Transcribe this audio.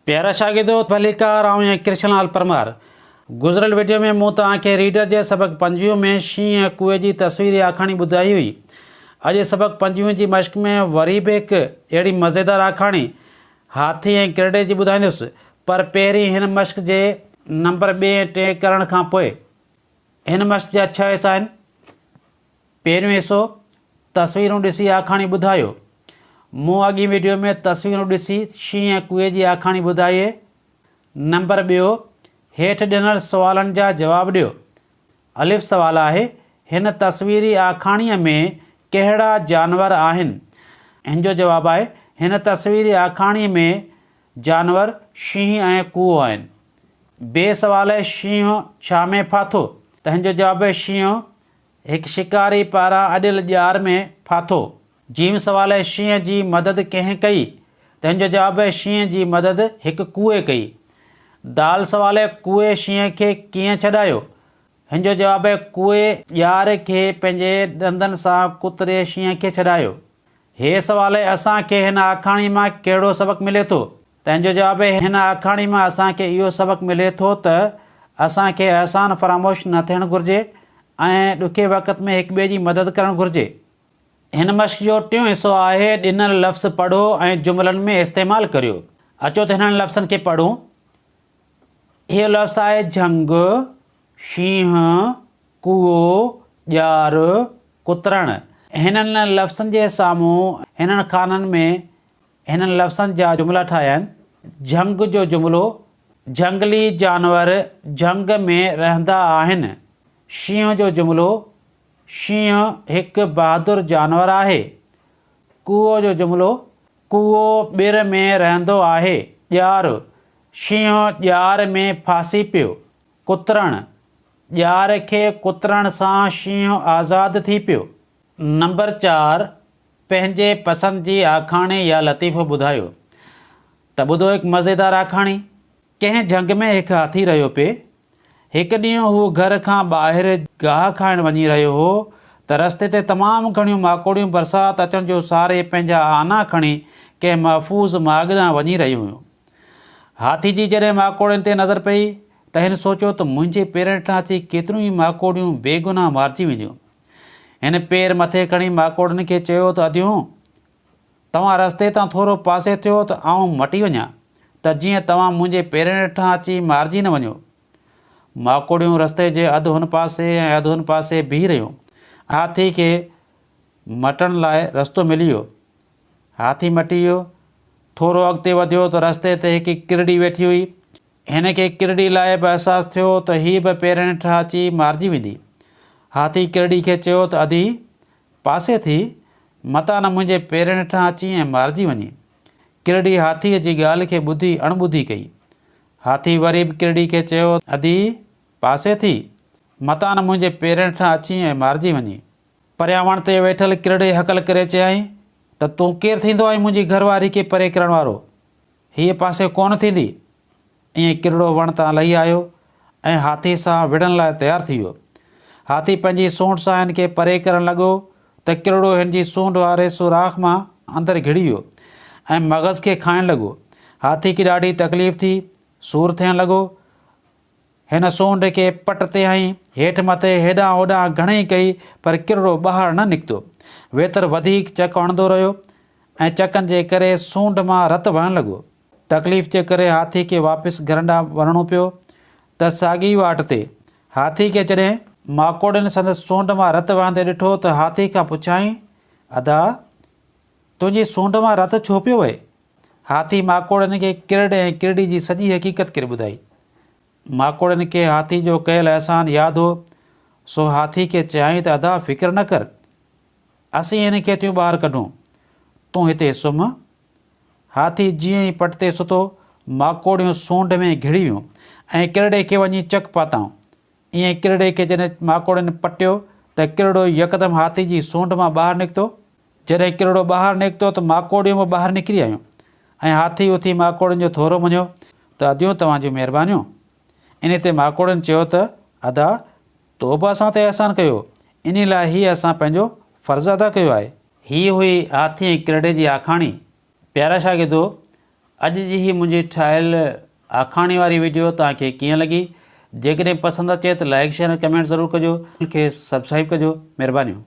پيارا شاگردو ڀليڪار آئون ۽ ڪرشن لال پرمار گذريل وڊيو ۾ مون توهان کي ريڊر جي سبق پنجويهه ۾ شينهن ۽ ڪوئي جي تصويري آکاڻي ٻڌائي هئي. اڄ سبق پنجويهه جي مشق ۾ وري به هڪ اهڙي مزيدار آکاڻي هاٿي ۽ ڪرڙي جي ٻڌائيندس پر پهرين هن مشق جي نمبر ٻئي ۽ ٽئين ڪرڻ کان پوء هن مشق جا ڇهه حصا آهن. پهريون حصو، تصويرون ڏسي آکاڻي ٻڌايو. مون اڳين وڊيو ۾ تصويرون ڏسي شينهن ۽ ڪوئي جي آکاڻي ٻڌائي اهي. نمبر ٻيو، هيٺ ڏنل سوالن جا جواب ڏيو. الف سوال آهي، هن تصويري آکاڻيء ۾ ڪهڙا جانور آهن؟ ان جو جواب آهي، هن تصويري آکاڻيء ۾ جانور شينهن ۽ ڪوئو آهن. بي سوال، شينهن ڇا ۾ ڦاٿو؟ تنهن جو جواب، شينهن هڪ شڪاري پاران اڏيل ڄار ۾ ڦاٿو. جيم سوال شينهن جي مدد ڪنهن ڪئي؟ تنهن جو جواب شينهن جي مدد هڪ ڪوئي ڪئي. دال سوال ڪوئي شينهن کي ڪيئن ڇڏايو؟ هن جو جواب ڪوئي ڄار کي پنهنجي ڏندن سان ڪتري شينهن کي ڇڏايو. هي سوال اهي اسان کي هن آکاڻي مان ڪهڙو سبق ملي ٿو؟ تنهن جو جواب اهي هن آکاڻي مان اسان کي اهو سبق ملي ٿو ته اسان کي احسان فراموش نه ٿيڻ گهرجي ۽ ڏکي وقت ۾ هڪ ٻئي جي مدد ڪرڻ گهرجي. هن مشق جو ٽيون حصو آهي ڏنل لفظ پڙهو ۽ جملن ۾ استعمال ڪريو. اچو ته هنن لفظن کي پڙهون. هيء لفظ آهي جهنگ، شينهن، ڪوئو، ڄار، ڪترڻ، هنن لفظن جي سامهون هنن خانن ۾ هنن لفظن جا جملا ٺاهيا آهن، جهنگ جو جملو، جهنگلي جانور جهنگ ۾ رهندا آهن. شينهن جو جملو، شينهن هڪ بهادر جانور آهي. ڪوئو جو جملو، ڪوئو ٻر ۾ رهندو آهي. ڄار، شينهن ڄار ۾ ڦاسي پيو. ڪترڻ، ڄار کي ڪترڻ سان شينهن آزاد ٿي پيو. نمبر چار، پنهنجي پسند جي آکاڻي يا لطيفو ٻڌايو. ته ٻڌو هڪ مزيدار آکاڻي. ڪنهن جهنگ ۾ هڪ هاٿي رهيو پئي. هڪ ڏينهن هو گهر کان ٻاهر گاهه کائڻ وڃي رهيو هو ته رستي تي تمام گهڻيون ماڪوڙيون برسات اچڻ جو ساري پنهنجا آنا کڻي ڪنهن محفوظ ماڳ ڏانهن وڃي رهيون هيون. هاٿي جي جڏهن ماڪوڙين تي نظر پئي ته هن سوچيو ته منهنجي پيرن هيٺان اچي ڪيتريون ئي ماڪوڙيون بيگناهه مارجي وينديون. هن پير مٿي کڻي ماڪوڙين کي چيو ته اديون! توهان رستي تان ٿورو پاسي ٿيو ته آئون مٽي وڃان ته جيئن توهان منهنجي پيرن هيٺان اچي مارجي نه وڃو. ماڪوڙيون رستي جي اڌ هن پاسي ۽ اڌ هن پاسي بيهي رهيون. هاٿي کي مٽڻ لاء رستو ملي ويو. هاٿي مٽي ويو. ٿورو اڳتي وڌيو ته رستي تي هڪ ڪرڙي ويٺي هئي. هن کي ڪرڙي لاء به احساس ٿيو ته هيء به پيرن هيٺان اچي مارجي ويندي. هاٿي ڪرڙي کي چيو ته ادي، پاسي ٿي، متان نه منهنجي پيرن هيٺان اچين ۽ مارجي وڃين. ڪرڙي هاٿيء جي ڳالهه کي ٻڌي اڻٻڌي ڪئي. هاٿي وري به ڪرڙي کي چيو ته ادي، پاسي ٿي، متان نه منهنجي پيرن هيٺان اچين ۽ مارجي وڃين. پريان وڻ تي ويٺل ڪرڙي هڪل ڪري چيائين ته تون ڪير ٿيندو آهين منهنجي گهر واري کي پري ڪرڻ وارو؟ هيء پاسي ڪونه ٿيندي. ائين ڪرڙو وڻ تان لهي آيو ۽ هاٿي سان وڙهڻ لاء تيار ٿي ويو. هاٿي پنهنجي سونڍ سان هن کي پري ڪرڻ لڳو ته ڪرڙو هن جي سونڍ واري سوراخ مان اندر گهڙي ويو ۽ مغز کي کائڻ لڳو. هاٿي کي ڏاڍي تڪليف ٿي، سور ٿيڻ لڳو. هن سونڊ کي پٽ تي هنئي، هيٺ مٿي هيڏانهن هوڏانهن گهڻئي ڪئي، پر ڪرڙو ٻاهر نه نڪتو. ويتر وڌيڪ چڪ هڻندو رهيو ۽ چڪن جي ڪري سونڊ مان رت وهڻ لڳو. تڪليف جي ڪري هاٿي کي واپس گهرن ڏانهن وڃڻو پيو ته ساڳي واٽ تي هاٿي کي جڏهن ماڪوڙن سندس سونڊ مان رت وهندي ڏٺو ته هاٿي کان پڇيائين، ادا! تنهنجي سونڊ مان رت ڇو پيو وهي؟ هاٿي ماڪوڙن کي ڪرڙ ۽ ڪرڙي جي سڄي حقيقت ڪري ٻڌائي. ماڪوڙن کي هاٿي جو ڪيل احسان ياد هو، سو هاٿي کي چيائين ته ادا فڪر نه ڪر، اسين هن کي ٿيون ٻاهر ڪڍون، تون هتي سمهه. هاٿي جيئن ئي پٽ تي ستو، ماڪوڙيون سونڍ ۾ گهڙي ويون ۽ ڪرڙي کي وڃي چڪ پاتائون. ايئن ڪرڙي کي جڏهن ماڪوڙن پٽيو ته ڪرڙو يڪدم هاٿي جي سونڍ مان ٻاهر نڪتو. جڏهن ڪرڙو ٻاهر نڪتو ته ماڪوڙيون به ٻاهر نڪري آيون ۽ هاٿي اٿي ماڪوڙين جو ٿورو مڃيو ته اديون توهان جون مهربانيون. انهي تي ماڪوڙين چيو ته ادا تو به اسان تي احسان ڪيو، انهي لاء هي اسان پنهنجو فرض ادا ڪيو آهي. هي هئي هاٿي ۽ ڪرڙي جي آکاڻي. پيارا شاگردو اڄ جي هي منهنجي ٺاهيل آکاڻي واري وڊيو توهان کي ڪيئن لڳي جيڪڏهن پسند اچي ته لائيڪ شيئر ۽ ڪمينٽ ضرور ڪجو کي سبسڪرائيب ڪجو مهربانيون.